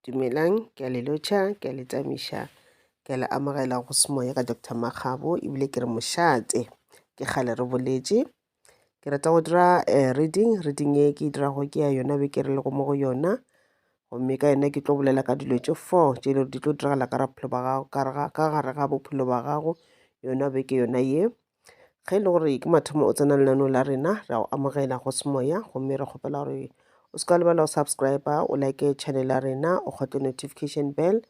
Dumelang, ke a le lotšha, ke a le tšamiša, ke a le amogela go semoya ka Doctor Makgabo ebile ke re mošate. Ke kgale re boletše, ke rata go dira reading, reading e ke e dirago ke ya yona beke re lego mo go yona, gomme ka yona ke tlo bolela ka dilo tše four tše e le gore di tlo diragala ka gare ga bophelo ba gago yona beke yona ye. ge e le gore ke mathomo o tsena lenaneo la rena ra go amogela go semoya gomme re kgopela gore o se ka lebala go subscribe o like channel ya rena o kgotle notification bell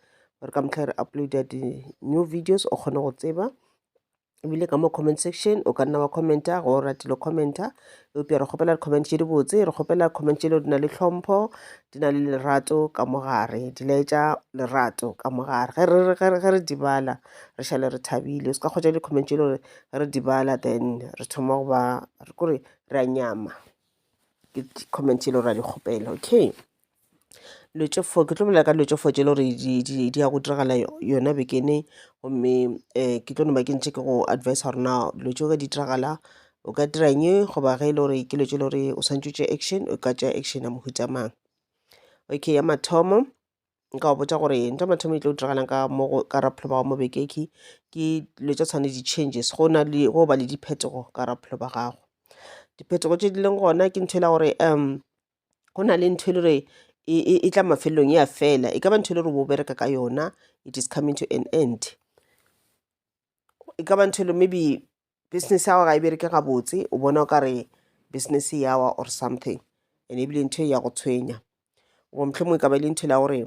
gore ka motlha re uploada di-new videos o kgone go tseba ebile ka mo comment section o ka nna wa commenta go ratile commenta Eupša re kgopela dikhomente tše dibotse, re kgopela dikhomente tše lego di na le tlhompho, di na le lerato ka mo gare, di laetša lerato ka mo gare. Ge re, ge re, ge re di bala, re šale re thabile. O se ka kgwetša dikhomente tše lego ge re di bala then re thoma go ba, kore re a nyama. Ke dikhomente tše lego ra di kgopela, okay. dilo tše four ke tlo bolela ka dilo tše four tše e le gore di- di di ya go diragala yo- yona bekene gomme um ke tlo no ba ke ntšhe ke go advisa gore na dilo tšeo ge di diragala o ka dira eng goba ge e le gore ke dilo tše e le gore o swanetše o tšee action o ka tšea action ya mohuta mang okay ya mathomo nka go botša gore ntho ya mathomo e tlo diragalang ka mo go ka rapelo ba gago mo bekeng ke ke dilo tša tshwane le di-changes go na le go ba le diphetogo ka rapelo ba gago diphetogo tše di leng gona ke ntho e la gore um go na le ntho e le re e, e, e tla mafelelong ya fela e ka ba ntho e le re bo bereka ka yona it is coming to an end e ka ba ntho e le maybe business yago ga e bereke gabotse o bona o ka re business yawa or something and ebile ntho e ya go tshwenya goba mohlomong e ka ba e le ntho e la gore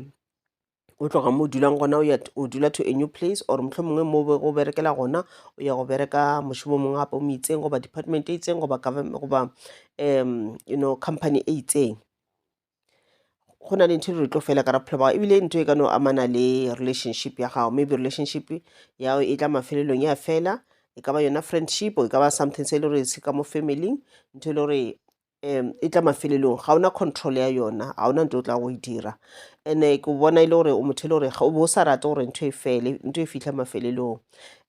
o tloga mo o dulang gona o dula to a new place or motlho mongwe mo go berekela gona o ya go bereka mošomo mongwe gape o mo itseng goba department e itseng goba goba um you know company e itseng go na le ntho e re tlo fela ka raphelo bao ebile ntho e ka no amana le relationship ya gago maybe relationship ya e tla mafelelong ya fela e ka ba yona friendship e ka ba something se e le gore se ka mo family ntho e le gore um e tla mafelelong ga ona control ya yona ga ona nto o tla go e dira ene ke bona e le gore o motho e le gore o bo o sa rate gore ntho e fele ntho e fitlha mafelelong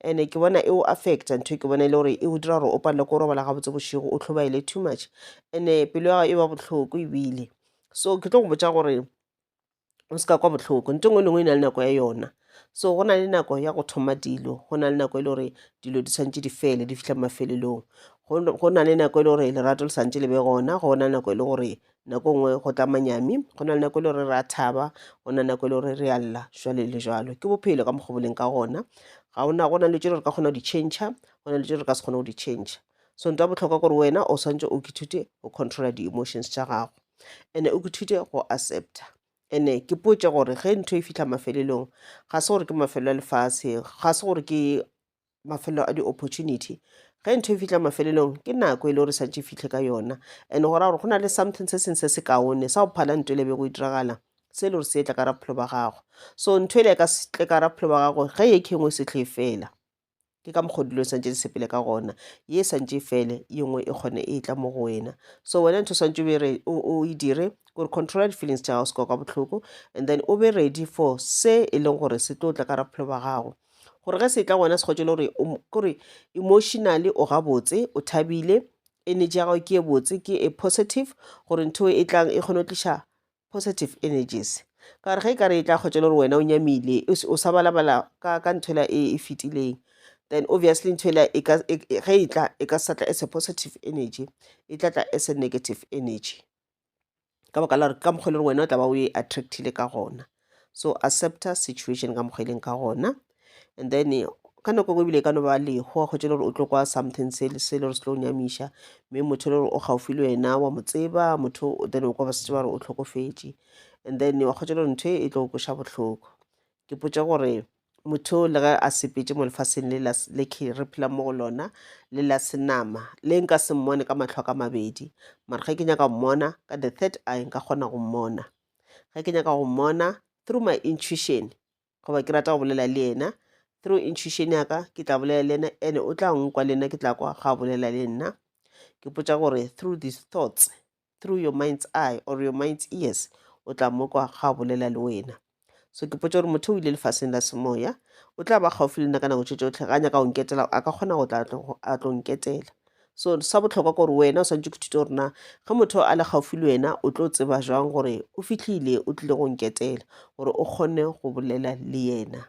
ene ke bona e o affecta ntho e ke bona e le gore e o dira gore o palele ko robala gabotse bošego o tlhobaele too much ene pelo ya gago e ba bohloko ebile so ke tlo go botsa gore o se ka kwa bohloko nto ngwe lengwe e na le nako ya yona so go na le nako ya go thoma dilo go na le nako e le gore dilo di tshwanetse di fele di fitlha mafelelong go na le nako e le gore lerato le santse le be gona go na le nako e le gore nako e nngwe go tla manyami go na le nako e le gore re a thaba go na le nako e le gore re a lla jwale le jalo ke bophelo ka mokgwa boleng ka gona ga ona go na le tse re ka kgona go di change go na le tse re ka se kgone go di change so nto ya botlhokwa gore wena o swantse o kithute o controla di-emotions tša gago ene o kuthile go accepta ene ke potše gore ge ntho e fitlha mafelelong ga se gore ke mafelo a lefase ga se gore ke mafelo a di-opportunity ge ntho e fitlha mafelelong ke nako e le gore santse e fitlhe ka yona and go ra gore go na le something se sengwe se se kaone sa go phala ntho e le be go e diragala se e le gore se etla ka raphelo ba gago so ntho e le ka tle ka raphelo ba gago ge e khengwe se tle fela ke ka mokgwa dilo santse di sepele ka gona ye santse e fele ye nngwe e kgone e tla mo go wena so wena ntho santse be re o e dire gore controla di-feelings tša gago se ka ka botlhoko and then o be ready for se e leng gore se tlo tla ka raphelo ba gago gore ge se tla gona se kgotse le gore kore emotionally o gabotse o thabile energy ya gago ke e botse ke e positive gore ntho e tlang e kgone go tliša positive energies ka gore ge e ka re e tla kgwetša le gore wena o nyamile o sa balabala ka ka ntho ela e e fetileng then obviously ntho ela e e, e, ge e tla e ka sa tla as a positive energy e tla tla as a negative energy ka baka la gore ka mokgwa e le gore wena o tla ba o e attractile ka gona so accepta situation ka mokgwa e leng ka gona and then ka nako nngwe ebile e ka no ba leho go tšela gore o tlo kwa something se le se le gore se tlo nyamiša mme motho le gore o gaufi le wena wa mo tseba motho o then o kwa ba setse ba re o tlhokofetše and then wa kgotšela gore ntho e e tlo koša bohloko ke potša gore motho le ge a sepetse mo lefaseng le la- le ke re phela mo go lona le la senama le nka se mmone ka matlho a ka mabedi mara ge ke nyaka go mmona ka the third eye nka kgona go mmona ge ke nyaka go mmona through my intuition goba ke rata go bolela le yena through intuition ya ka ke tla bolela le yena ene o tla nkwa le nna ke tla kwa ga bolela le nna ke potsa gore through these thoughts through your mind's eye or your mind's ears o tla mo kwa ga bolela le wena so ke potsa gore motho o ile lefaseng la semoya o tla ba gaufi le nna ka nako tše tsotlhe ga a nyaka go nketela a ka kgona go tla a tlo nketela So sa bohlokwa gore wena o swanetše go thuta gore na ge motho a le gaufi le wena o tlo tseba jwang gore o fitlhile o tlile go nketela gore o kgone go bolela le yena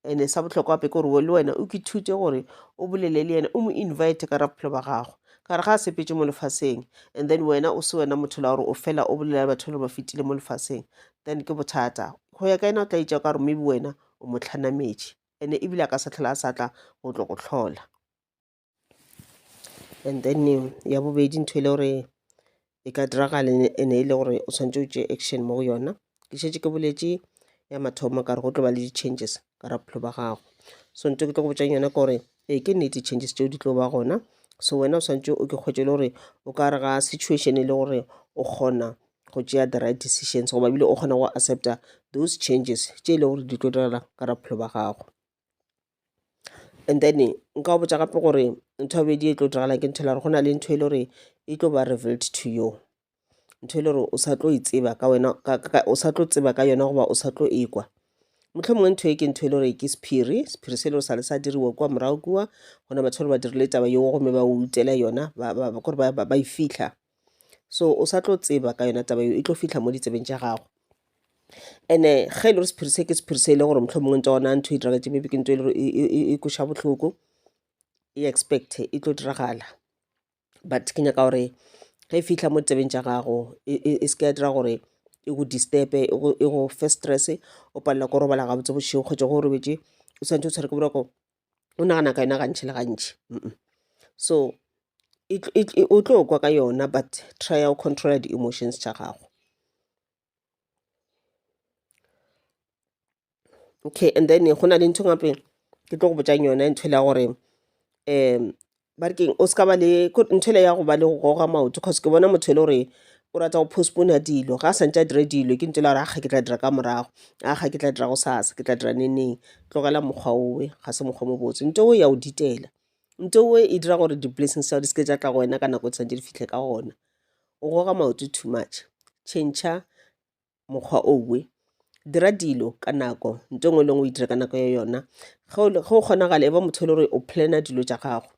ene sa bohlokwa gape ke gore le wena o ke thute gore o bolele le yena o mo invite ka ra bophelo ba gago ka re ga a sepetse mo lefaseng and then wena o se wena motho la gore o fela o bolela le batho le ba fetile mo lefaseng then ke bothata go ya ka yena o tla itša ka gore maybe wena o mo tlhanametše ene ebile a ka sa tlhola a sa tla go tlo go tlhola And then eh, ya bobedi ntho e le gore e ka diragala e ne- e ne e le gore o tshwanetse o tšee action mo go yona ke šetše ke boletše ya mathomo ka re go tlo ba le di-changes ka ra bophelo ba gago so nto ke tlo go botšang yona ke gore ee ke nnete changes tšeo di tlo ba gona so wena o tshwanetse o ke kgwetše le gore o ka re ga situation e le gore o kgona go tšea the right decisions goba bile o kgona go accepta those changes tše e le gore di tlo direla ka ra bophelo ba gago and then nka go botsa gape gore ntho ya bobedi e tlo diragala ke ntho e le gore go na le ntho e le gore e tlo ba revealed to you ntho e le gore o sa tlo e tseba ka wena ka- ka- o sa tlo tseba ka yona goba o sa tlo ekwa motlho mongwe ntho e ke ntho e le gore ke sephiri sephiri se e le gore sa le sa diriwa kua morago kua gona batho ba ba dirile taba yeo gomme ba o utela yona ba- ba- ba- kore ba ba- ba e fitlha so o sa tlo tseba ka yona taba eo e tlo fitlha mo ditsebeng tša gago ene ge e le gore sephiri se ke sephiri se e le gore motlho mongwe ntse ona ntho e diraga tse maybe ke ntho e le gore e- e- e- e koša bohloko e expect e tlo diragala but ke nyaka gore ge e fitlha mo ditsebeng tša gago e e- e se ke ya dira gore e go disturbe e go- e go fe stress o palela ko robala gabotse bošego kgotsa go robetše o santse o tshwere ke boroko o nagana ka yona gantši le gantši so o tlo kwa ka yona but try ya go controla di-emotions tša gago okay and then go na le ntho gape ke tlo go botsang yona ntho le ya gore um ba re keng o se ka ba le ko- ntho ele ya go ba le go goga maoto cause ke bona motho e le gore o rata go postpona dilo ga a santse a dire dilo ke ntho e le gore aga ke tla dira ka morago aga ke tla dira go sasa ke tla dira neneng tlogela mokgwa owe ga se mokgwa o mobotse nto owe ya o ditela nto owe e dira gore di-blessings tsa di seke tsa tla go wena ka nako e tshwanetse di fitlhe ka gona o goga maoto too much changer mokgwa owe dira dilo ka nako nto engwe le ngwe o e dira ka nako ya yona ge o kgonagala e ba motho e le gore o plana dilo tša gago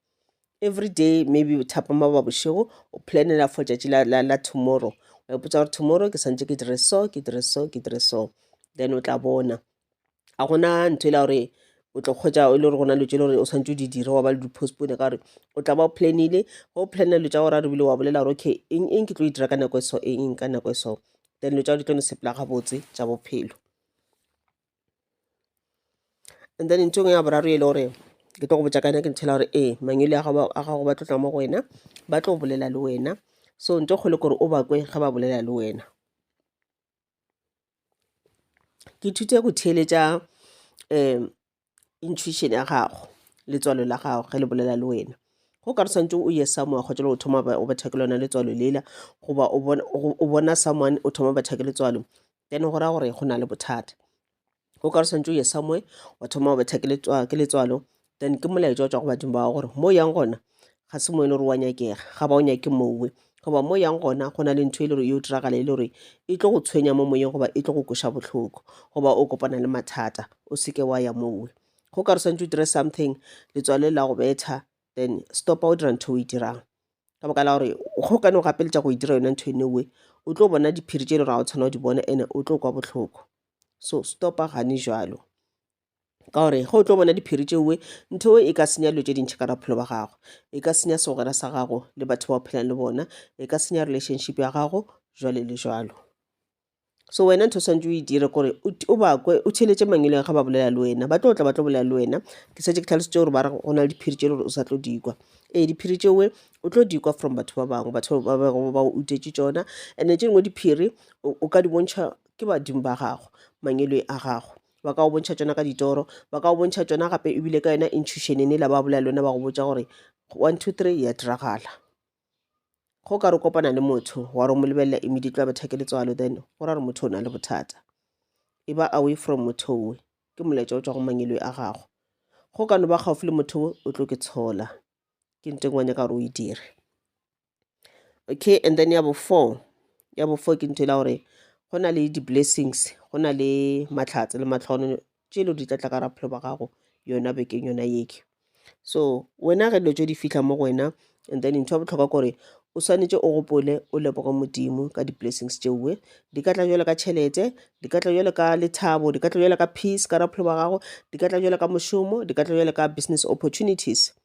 every day maybe thapama ba bošego o planela for tšatši la, la, la tomorrow wa ipotsa gore tomorrow ke swantse ke dire so ke dire so ke dire so then o tla bona a gona ntho e la gore o tlo kgwetsa e le gore gona dilo tse le gore o tshwanetse o di dire wa ba le di-postpone ka gore o tla ba o planile go o planne dilo tsa gore a rebile wa bolela gore okay eng eng ke tlo e dira ka nako e so eng eng ka nako e so then dilo tsa gore di tlo ne sepela gabotse tsa bophelo and then ntho engwe ya boraro e le gore ke tlo go botsa ka yona ke ntho e la gore ee mangele a gago a gago ba tlo tla mo go wena ba tlo bolela le wena so ntho e kgolo ke gore o bakwe ge ba bolela le wena Ke ithute go theeletša um intuition ya gago, letswalo la gago ge le bolela le wena. Go ka re swantše o ye somewhere kgotša le go thoma o betha ke lona letswalo lela, goba o bona someone o thoma o betha ke letswalo, then go ra gore go na le bothata. o ka re swantse o ye somewhere wa thoma wa betha ke letswalo then ke molaetša o tswa go badimo ba gore mo yang gona ga se mo e le gore wa nyakega ga ba o nyake mowe goba mo yang gona go na le ntho e le gore yo diragala e le gore e tlo go tshwenya mo moyeng goba e tlo go kweša botlhoko goba o kopana le mathata o seke wa ya mowe go ka re swantse o dire something letswalo la go betha then stopa o dira ntho o e dirang ka baka la gore go ka ne o gapeletša go e dira yona ntho e newe o tlo bona diphiri tše e le gore ga o tshwana o di bona ene o tlo kwa botlhoko so stopa gane jalo ka gore ge o tlo bona diphiri tšeoe ntho e e ka senya dilo tše dintšhi ka bophelo ba gago e ka senya segwera sa gago le batho ba o phelang le bona e ka senya relationship ya gago jwale le jwalo so wena ntho swantse o e dire kore o bakwe o theletše mangweleng ga ba bolela le wena ba tlo tla ba tlo bolela le wena ke setse ke tlhalosetse gore ba re go na le diphiri tše le gore o sa tlo dikwa ee diphiri tšeoe o tlo dikwa from batho ba bangwe batho ba utetse tsona and-e tše dingwe diphiri o ka di bontšha ke badimo ba gago mangelo a gago ba ka go bontšha tšona ka ditoro ba ka go bontšha tšona gape ebile ka yona intuition ene la ba bolela lona ba go botsa gore one two three ya diragala go ka re kopana le motho wa re mo lebelela immediately ba thekele tswalo then go ra re motho o na le bothata e ba away from motho owe ke molaetša o tswa go mangelo a gago go ka no ba gaufi le motho o tlo ke tshola ke ntengwanya ka gore o e dire okay and then ya bo four ya bo four ke ntho e la gore go na le di-blessings go na le matlhatse le matlhono tše e le di tla tla ka ra bophelo ba gago yona bekeng yona yeke so wena ge dilo tše di fitlha mo go wena and then ntho ya botlhokwa kore o swanetše o gopole o leboge modimo ka di-blessings tšeoe di ka tla jalo ka tšhelete di ka tla jalo ka lethabo di ka tla jalo ka peace ka raphelo ba gago di ka tla jalo ka mošomo di ka tla jalo ka business opportunities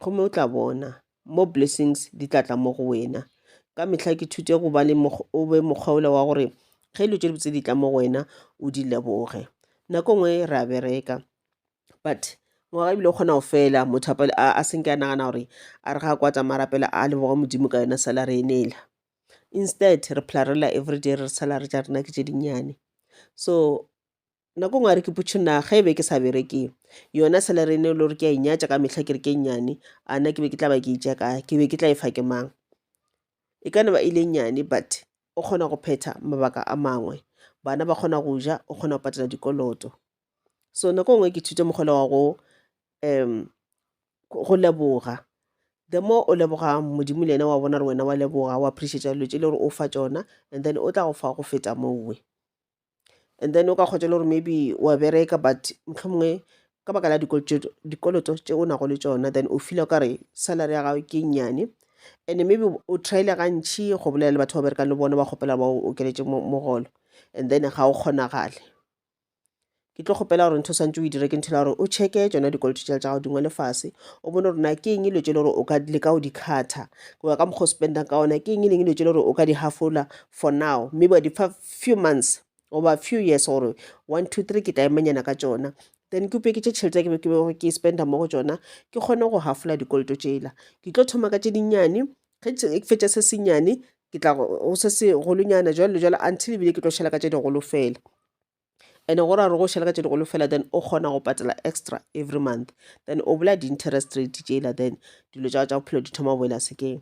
gomme o tla bona mo blessings di tla tla mo go wena ka mehla ke thute go ba le o be mokgwaola wa gore ge dilo tše di botse di tla mo go wena o di leboge nako nngwe re a bereka but ngwaga ebile o kgona go fela motho a senke a nagana gore a re ga a kwa tsamaya rapela a leboga modimo ka yona salary e nela instead re phela re lela everyday re re salary tša rena ke tše dinnyane so nako ngwe a re ke putšhunna ge e be ke sa bereke yona salary ene le gore ke a inyatša ka mehla ke re ke nnyane a na ke be ke tla ba ke itša ka ke be ke tla e fa ke mang e ka ne ba ile nnyane but o kgona go phetha mabaka a mangwe bana ba kgona go ja o kgona go patela dikoloto so nako ngwe ke thute mokgolo wa go um go leboga the more o leboga modimo le ena wa bona gore wena wa leboga wa appreciate dilo tse le gore o fa tsona and then o tla go fa go feta mowe and then o ka kgotša le gore maybe wa bereka but mohlomongwe ka baka la dikoloto tše o nago le tšona then o feela o kare salary ya gago ke nnyane and maybe o tryile gantši go bolela le batho ba berekang le bona ba kgopela ba o okeletše mogolo and then ga o kgonagale ke tlo kgopela gore ntho swantse o e dire ke ntho la gore o checke tsona dikoloto tša gago dingwe le fase o bone gore na ke eng dilo tse le gore o ka leka o di kgatha goba ka mokgwa o spendang ka ona ke eng e leng dilo tse le gore o ka di hafola for now mme ba di fa few months goba few years gore one two three ke taemanyana ka tšona then ke upeketše tšhelete ke be ke bego ke spenda mo go tšona ke kgone go hafola dikoloto tšela ke tlo thoma ka tše dinnyane ge ke fetša se senyane ke tla go se segolonyana jalo le jalo until ebile ke tlo šhela ka tše digolo fela and go ra re go šhela ka tše digolo fela then o kgona go patela extra every month then o bola di-interest rate tšela then dilo tša tša bophelo di thoma go boela sekeng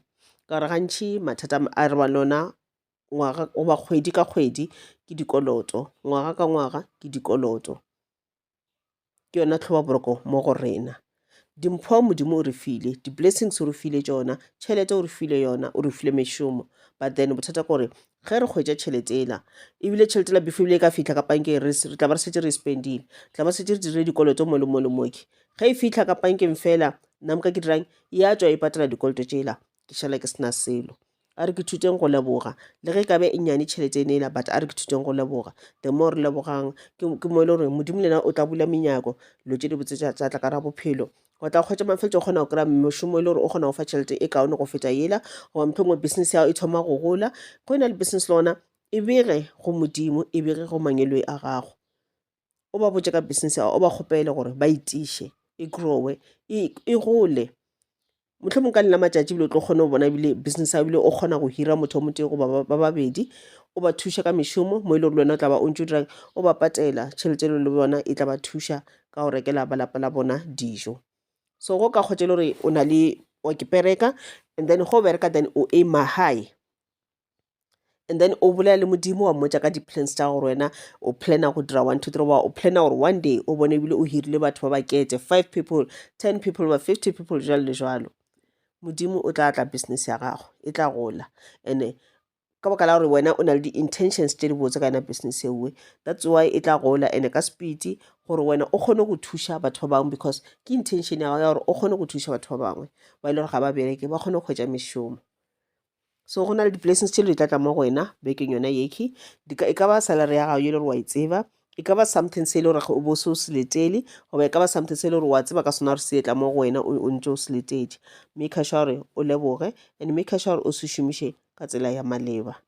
ka gore gantšhi mathata a re ba lona ngwaga goba kgwedi ka kgwedi ke dikoloto, ngwaga ka ngwaga ke dikoloto. Ke yona tlhobaboroko mo go rena. Dimpho Modimo o re file, di-blessings o re file tšona, tšhelete o re file yona, o re file mešomo. But then bothata kore ge re hwetša tšhelete ela, ebile tšhelete ela before ebile e ka fihla ka pankeng re tla ba re šetše re e spend-ile, re tla ba re šetše re dirile dikoloto mo le mo le mo ke. Ge e fihla ka pankeng fela, nna ka ke dirang? Ya tšwa e patala dikoloto tšela, ke šala ke se na selo. a re ke thuteng go leboga le ge kabe e nyane tšhelete e nela but a re ke thuteng go leboga the more re lebogang ke mo e le gore modimo lena o tla bula menyako lo tse di botse tsa tla ka ra bophelo go tla kgwetsa mafeletso o kgona go kry-a mošomo e le gore o kgona go fa tšhelete e kaone go feta ela goba motlho mongwe business ya gago e thoma go gola go e na le business le gona e bege go modimo e bege go mangeloi a gago o ba botše ka business ya o ba kgopele gore ba itiše e growe e, e gole motlho mongwe ka lena matšatši bile o tlo kgone go bona ebile business ya bile o kgona go hira motho wa motee goba ba babedi o ba thuša ka mešomo mo e le gore le wena o tla ba o ntse o dirang o ba patela tšhelete elo le bona e tla ba thuša ka go rekela balapa la bona dijo so go ka kgotse le gore o na le wa ke pereka and then go bereka then o aima high and then o bolela le modimo wa mmotsa ka di-plans tsa gore wena o plana go dira one two three wa o plana gore one day o bone ebile o hirile batho ba bakete five people ten people ba fifty people jalo le jalo modimo o tla tla business ya gago e tla gola and-e ka baka la gore wena o na le di-intentions tse di botse ka yona business ewe that's why e tla gola and-e ka speed gore wena o kgone go thuša batho ba bangwe because ke intention ya gago ya gore o kgone go thuša batho ba bangwe ba e le gore ga ba bereke ba kgone go hwetša mešomo so go na le di-blessings tše di tla tla mo go wena bekeng yona yekhi e ka ba salary ya gago e le gore wa e tseba e ka ba something se e le gore o bo se o se letele goba e ka ba something se e le gore wa tseba ka sona gore se etla mo go wena o ntse o se letetše mme kgaša gore o leboge and mme kgaša gore o se šomiše ka tsela ya maleba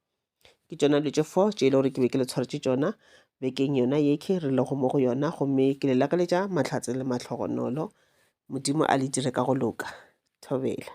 ke tšona dilo tše four tše e le gore ke be ke le tshwaretše tšona bekeng yona yekhi re lego mo go yona gomme ke le lakaletša mahlatse le mahlogonolo modimo a le dire ka go loka thobela